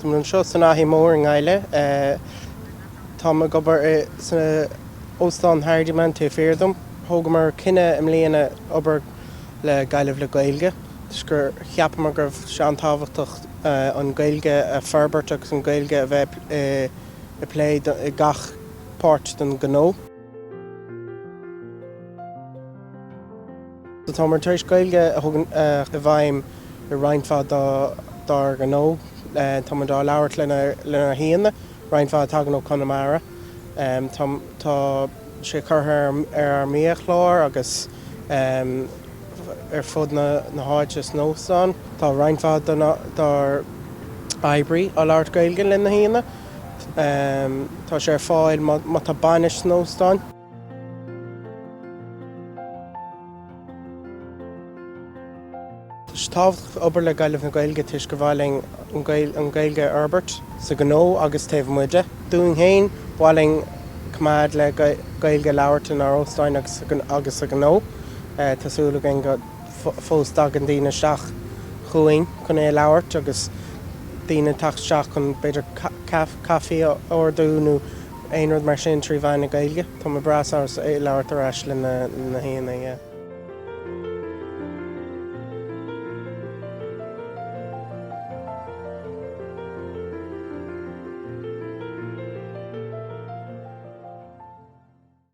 Tá mé anseo san Fhaiche Mhór i nGaillimh. Táim ag obair san Óstán Hardiman taobh thiar díom. Thógamar cinneadh i mbliana obair le Gaillimh le Gaeilge toisc gur cheapamar go raibh sé an-tábhachtach an Ghaeilge a fhorbairt agus an Ghaeilge a bheith i bplé i gach páirt den ghnó. Táimid tar éis Gaeilge a chur i bhfeidhm i roinnt mhaith dár ngnó. Táimid á labhairt lenár n-aíonna, roinnt mhaith a thagann ó Chonamara. Tá sé curtha ar ár mbiachlár agus ar fud na háite san óstán. Tá roinnt mhaith dár oibrí á labhairt Gaeilge lena haíonna. Tá sé ar fáil má tá bainis san óstán. Tá sé tábhachtach obair le Gaillimh le Gaeilge toisc gur mhaith linn an Ghaeilge a fhorbairt sa ghnó agus taobh amuigh de. Dúinn féin, ba mhaith linn coimeád le Gaeilge a labhairt inár n-óstán agus sa ghnó. Tá súil againn go. fós dtagann daoine isteach chugainn chun é a labhairt agus daoine ag teacht isteach chun b'fhéidir caife a ordú nó aon rud mar sin trí mheán na Gaeilge. Tá mé breá sásta é a labhairt ar ais leis na haíonna, yeah.